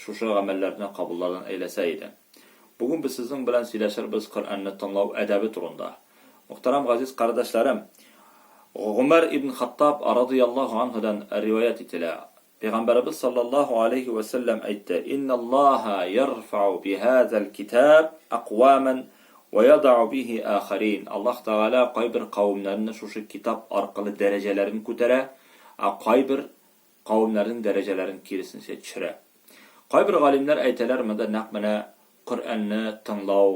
Шушы гамәлләрне кабулларын әйләсә иде. Бүген без сезнең белән сөйләшербез Коръәнне тыңлау әдәбе турында. Мөхтәрәм газиз кардәшләрем! Гомәр ибн Хаттаб радыйяллаһу анһудан риваять ителә, Пәйгамбәребез саллаллаһу аләйһи вә сәлләм әйтте, Инналлаһа ярфәу бихазәл китаб әкъвамән вә ядау бихи ахәрин, Аллаһ Тәгалә кайбер кавемнәрне шушы китап аркылы дәрәҗәләрен күтәрә, ә кайбер кавемнәрнең дәрәҗәләрен киресенчә төшерә. Кайбер галимнәр әйтәләр, монда нәкъ менә Коръәнне тыңлау,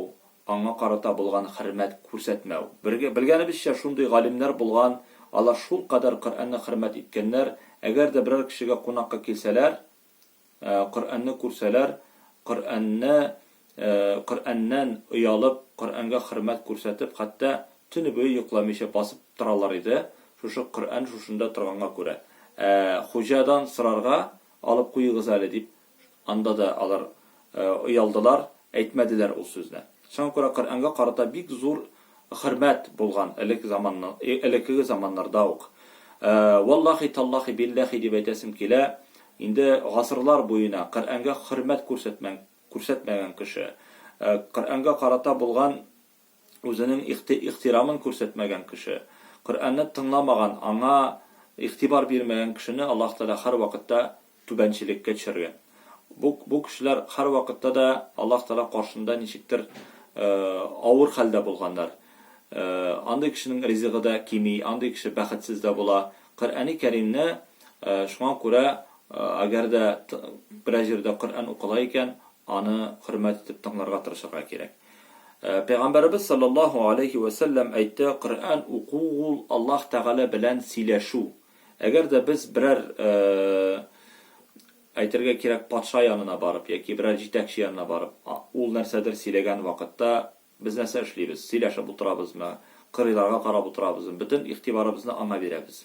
аңа карата булган хөрмәт күрсәтмәү. Бергә, белгәнебезчә, шундый галимнәр булган, алар шулкадәр Коръәнне хөрмәт иткәннәр, әгәр дә берәр кешегә кунакка килсәләр, Коръәнне күрсәләр, Коръәнне, Коръәннән оялып, Коръәнгә хөрмәт күрсәтеп, хәтта төне буе йокламыйча басып торалар иде, шушы Коръән шушында торганга күрә. Ә хуҗадан сорарга, алып куегыз әле, дип, анда да алар оялдылар, Әйтмәделәр ул сүзне. Шуңа күрә Коръәнгә карата бик зур хөрмәт булган элек заманнан, элеккеге заманнарда ук. Валлахи, таллахи, билләхи дип әйтәсем килә, инде гасырлар буена Коръәнгә хөрмәт күрсәтмәгән кеше, Коръәнгә карата булган Үзенең ихти-ихтирамын күрсәтмәгән кеше, Коръәнне тыңламаган, аңа игътибар бирмәгән кешене Аллаһ Тәгалә һәрвакытта түбәнчелеккә төшергән. Бу, бу кешеләр һәрвакытта да Аллаһ Тәгалә каршында ничектер авыр хәлдә булганнар. Андый кешенең ризыгы да кими, андый кеше бәхетсез дә була. Коръәни Кәримне, шуңа күрә, әгәр дә берәр җирдә Коръән укыла икән, аны хөрмәт итеп тыңларга тырышырга кирәк. Пәйгамбәребез салләллаһу аләйһи вә сәлләм әйтте, Коръән уку ул Аллаһ Тәгалә белән сөйләшү. Әгәр дә без берәр, әйтергә кирәк, патша янына барып яки берәр җитәкче янына барып, ул нәрсәдер сөйләгән вакытта без нәрсә эшлибез? Сөйләшеп утырабызмы, кырыйларга карап утырабызмы? Бөтен игътибарыбызны аңа бирәбез.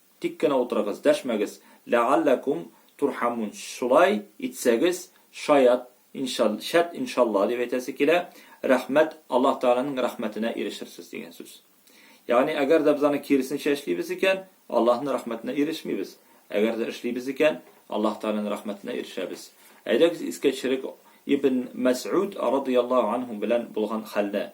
Тик кенә утырыгыз, дәшмәгез, ләгалләкум турхамун, шулай итсәгез, шаят, иншал, шәт, иншалла, дип әйтәсе килә, рәхмәт, Аллаһ Тәгаләнең рәхмәтенә ирешерсез, дигән сүз. Ягъни, әгәр дә без аны киресенчә эшлибез икән, Аллаһның рәхмәтенә ирешмибез, әгәр дә эшлибез икән, Аллаһ Тәгаләнең рәхмәтенә ирешәбез. Әйдәгез искә төшерик Ибн Мәсгуд радый Аллаһу анһу белән булган хәлне.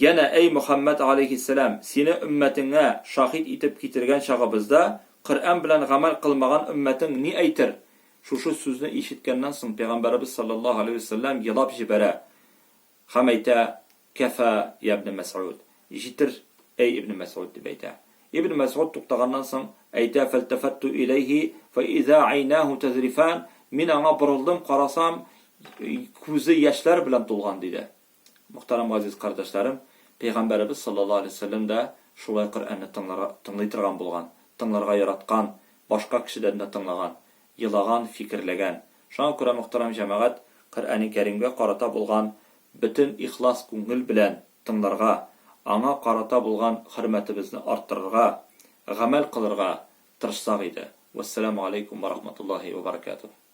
Янә, Әй Мөхәммәд галәйһиссәлам, сине өммәтеңә шаһит итеп китергән чагыбызда, Коръән белән гамәл кылмаган өммәтең ни әйтер? Шушы сүзне ишеткәннән соң, пәйгамбәребез салләллаһу галәйһи вә сәлләм елап җибәрә һәм әйтә, Кәфа, йә Ибне Мәсгуд! Җитер, әй Ибне Мәсгуд! дип әйтә. Ибне Мәсгуд туктаганнан соң, әйтә, Фәлтәфәттү иләйһи фә иза әйнәһү тәзрифән, Мин аңа борылдым, карасам, күзе яшьләр белән тулган, диде. Мөхтәрәм газиз кардәшләрем, Пәйгамбәребез саллаллаһу алейһи ва сәлләм дә шулай Коръәнне тыңларга, тыңлый торган булган, тыңларга яраткан, башка кешедән дә тыңлаган, елаган, фикерләгән. Шуңа күрә, мөхтәрәм җәмәгать, Коръәни Кәримгә карата булган бөтен ихлас күңел белән тыңларга, аңа карата булган хөрмәтебезне арттырырга, гамәл кылырга тырышсак иде. Вәссәламү галәйкүм вә рахматуллаһи вә бәрәкәтүһ.